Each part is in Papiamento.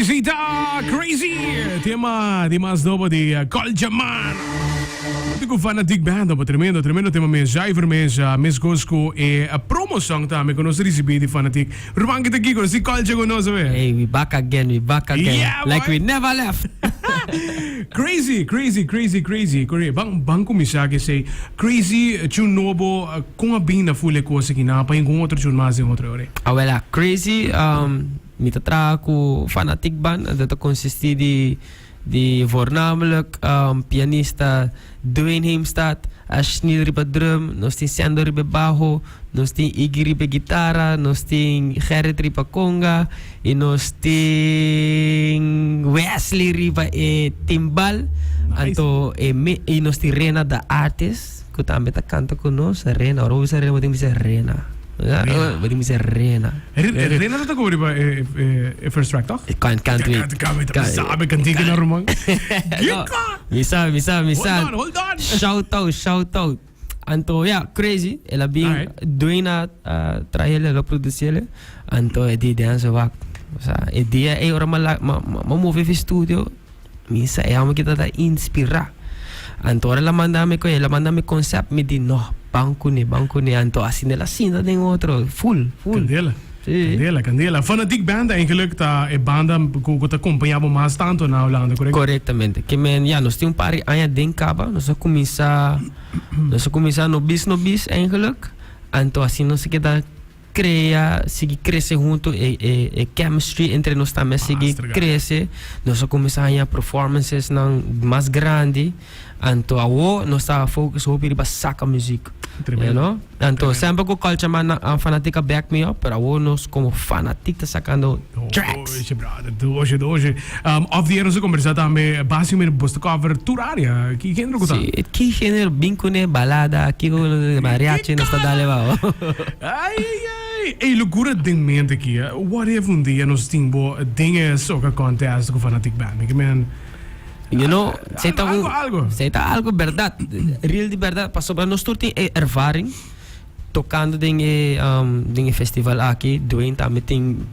Zita Crazy, tema di mas nobo di Culture Man. Di cu Fanatic Band, opo tremendo, tremendo tema mes, zuiver mes, mes goes cu e promo song tambe cu nos ricibi di Fanatic. Ruman kita aki, conoci Culture cu nos owe. Ey, we back again, we back again. Yeah, boy! Like we never left. Crazy, crazy, crazy, crazy. Coré, ban, ban cuminsá cu esey. Crazy, tune nobo. Con a bin na full e cos aki? Nan a paña cu un otro chul mas den otro hora. Awela Crazy, mi ta traha cu Fanatic Band en ta ta consisti di di voornamelijk pianista Dwayne Heemstad, Ashneal riba drum, nos tin Sendo riba e baho, nos tin Iggy riba e guitarra, nos tin Gerrit riba conga y nos tin Wesley riba e timbal. Anto e y nos tin Rena the Artist. ku tambe ta kanta ku nos, Rena. Ora bo bisa Rena bo tin bisa Rena. Rena. Bo tin bisa Rena. Rena no ta koba riba e first track toh? Can't can't wait. Can't can't wait. Mi sabe kantika na ruman. Gika. Mi sabe mi sabe mi sabe. Hold on hold on. Shout out shout out. Anto ya crazy el a bin Alright. Dwayne a traele el a producele anto e di den so wak. O sea, e dia e ora ma la ma ma move fi studio Mi sa e homber ki ta ta inspira. Anto ora el a manda mi koe, el a manda mi concept, mi di no, ban cu ne, ban cu ne. Anto asina el a sinta den otro, full, full. Candela, Sí. candela, candela. Fanatic Band eigenlijk ta e banda cu cu ta compaña bo mas tanto na Holanda, correcto? Correctamente. Ke men, ya, nos tin un par di aña den caba, nos a cuminsa, nos a cuminsa no bis, no bis, eigenlijk. Anto asina nos a keda. crea sigui crece hunto e e e chemistry entre nos tambe a sigui Master, gana. crece nos a cuminsa haña performances nan mas grandi anto awo nos ta focus hopi riba saca muziek Tremendo, you know anto tremendo. semper cu culture man nan a fanatic a back me up pero awo nos como fanatic ta sacando track. Oye brother tu oye tu oye off the air nos a conversa tambe basi mira bosta cover tur área ki género ku ta Sí, ki género bin kune balada, ki kune de mariachi nos ta dale bao. Ay ay ay ey locura den mente aki eh what if un dia nos tin bo den e soca contest ku fanatic band mi ke men You know, sei ta algo un algo algo. sei ta algo berdad, real di berdad, pasobra nos tur tin e ervaring. Tokando den e den e festival aki Dwayne tambe tin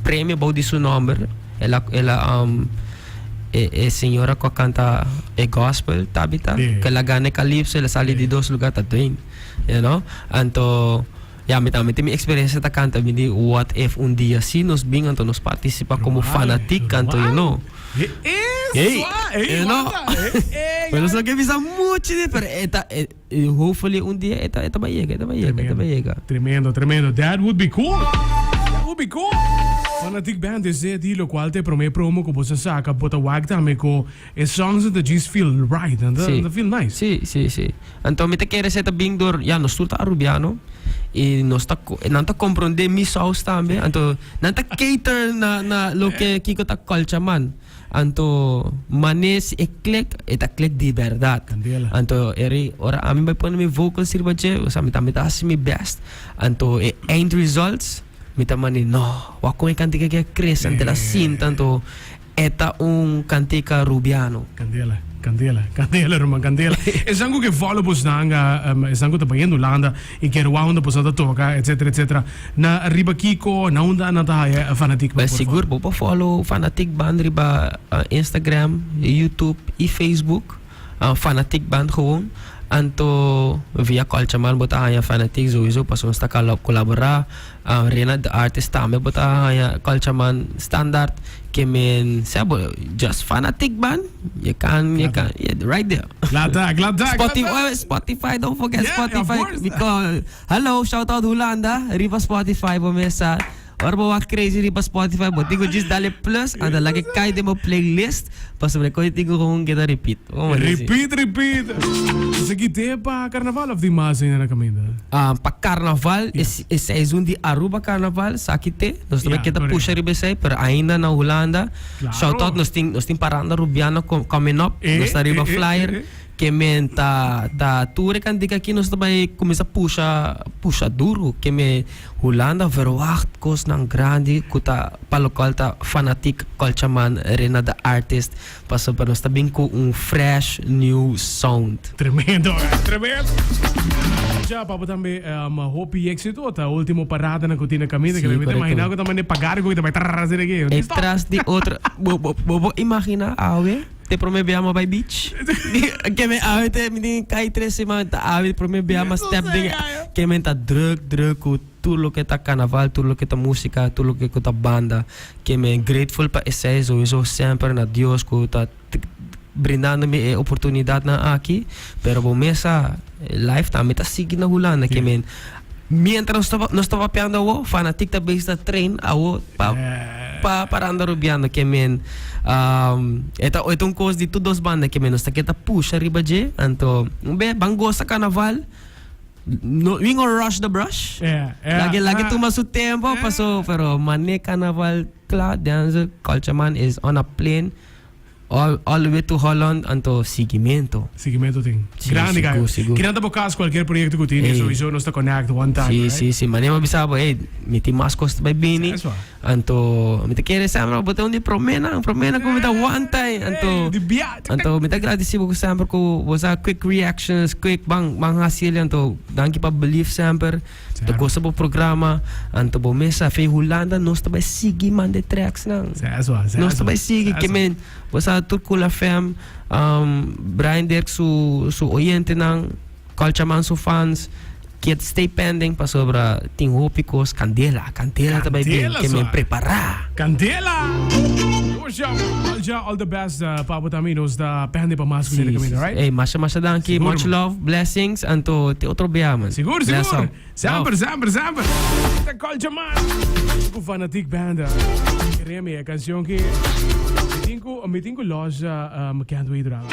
premio bou di su nomber. El a el a um, e, e señora cu a canta e gospel Tabitha, Sí. que la gana e calipso, el a sali di dos lugar ta Dwayne. You know? Anto ya mi tambe tin mi experiencia ta canta mi di what if un dia si nos bin anto nos participa como Normal, fanatic normal. anto you know. He is Hey, zwaar. Hey, you know. wanda. Hey, hey, Pero ja. so ke bisa mucho di pero e ta e Y hopefully un dia e ta bai yega, e ta bai yega, e ta bai yega. Tremendo, tremendo, tremendo. That would be cool! That would be cool! Fanatic Band is it y locual ta e prome promo cu boso a saca, bo ta wak tambe cu e songs nan ta djis feel right, nan ta, nan ta feel nice. Sí, sí, sí. Anto mi ta kere seta bin dor, ya, nos tur ta Arubiano y nos ta co, nan ta compronde mi saus tambe, anto nan ta cater na, na loke Kiko ta culture man. Anto mane si e klek e ta klek di berdad. Candela. Anto e rei ora ami bai pone mi vocals riba dje, o sea mi ta mi ta hasi mi best. Anto e eind results mi ta mane no, wak con e cantica aki a crece anto el a sinta anto e ta un cantica Rubiano. Candela, candela, candela ruman, candela. Esan cu ke volubles nan, esan cu ta bayendo Hulanda. I kier waunda boso ta toka etc etc na riba kiko na unda anan ta haya e fanatik nan por favor. Sigur bo por follow fanatik band riba instagram, youtube i facebook fanatik band gewoon anto via kòlchaman bo ta haya fanatik sowieso pasobra nos ta colabora Rena de Artes tambe bo ta haña Culture Man standaard ke men sea bo just fanatic ban je kan je kan right there. Glad ta, glad ta, glad ta. Spotify, Spotify don't forget Yeah, Spotify of course. because hallo shout out Hulanda riba Spotify bo mes sa ora bo wak crazy riba Spotify bo tin ku just dale plus anda lak e kai den bo playlist. Pasobra koe tin ku houn keda ripit. Ripit ripit. Esaki te pa karnaval of tin mas aña na kaminda? Pa karnaval e seizoen di Aruba karnaval saki te. Nos ta keda pusha riba esei pero ainda na Hulanda. Shout out nos tin nos tin paranda rubiano coming up nos ta riba flyer. Ke men ta ta tur e kantika aki nos ta bai kuminsá pusha pusha duru ke me Hulanda verwacht kosnan grandi ku ta pa lokal ta fanatik kòlcha man Rena de Artist paso pa nos ta bin ku un fresh new sound. Tremendo guys, tremendo! Dja papo tambe em hopi éksito ta último paradanan ku tin na kaminda ke Si, mi ta korekto. imaginá ku ta mane pagar algu ku ta bai trrr asina ke. E tras di otro bo bo bo bo imaginá awe? te prome bia ma bai beach ke men awe te mi tin kai tres seman ta awe prome bia ma step den ke men ta druk druk ku tur loke ta kanaval tur loke ta musika tur loke ku ta banda ke men grateful pa esei souiso semper na dios ku ta brindando mi e oportunidatnan aki pero bo mesa Lifetime mi ta sigui na Hulanda ke men mientras nos ta nos ta papiando awo fanatik ta bezig ta train awo pa pa pa randa rubiando ke men um, eta eta un kos di tur dos banda ke men nos ta ke ta pusha riba dje anto be ban gosa kanaval no we gonna rush the brush Yeah, yeah, lagi lagi ah. tuma su tempo Yeah. paso pero mane kanaval kla den culture man is on a plane All all the way to Holland anto siguiemento. Siguiemento tin grandi ka yo. Kina ta bo kas kualkier proyekto ku tin souiso nos ta connect one time right. Si si si mane bo a bisa bo ey mi tin mas kos ta bai bini anto mi ta kere semper bo ta un di prome nan prome nan ku mi ta wanta ey anto anto mi ta gradisi bo semper ku bo sa quick reactions quick ban ban hasi anto danki pa believe semper. Bo ta gosa bo programa, anto bo mes a fe Hulanda nos ta bai sigui manda e tracks nan. Nos ta bai sigui ke men bo sa tur Cool FM, Brian Dirk su su oyentenan, Culture Man su fans kiet stay pending pasobra tin hopi cos candela. Candela ta bai bien, Candela, kemi suave. prepara. Candela! Yo ja, al ja, all the best eh, pa abo también. Nos ta pende pa mas cu Si, dele si, caminda, si. right? Ey, masha, masha danki. Sigur, Much man. love, blessings, anto te otro bia, man. Sigur, Bless sigur. up. Semper, Love. semper, semper. Kita culture man. Ku fanatic band. Keremi e canción ki. Mitin ku, mitin ku Loja, um, can't wait, Ralph.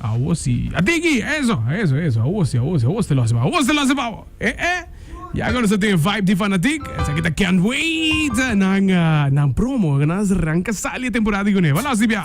Awosi. A tiki! Eso, eso, eso. Awosi, awosi, awosi te losa pa awor. Awor te losa pa awor. E, e. Ya ku nosotros tin vibe di fanatic. Esaki ta Can't Wait. Nan, nan promo. Nan ranka sali e temporada di Guneva. Losa di bia.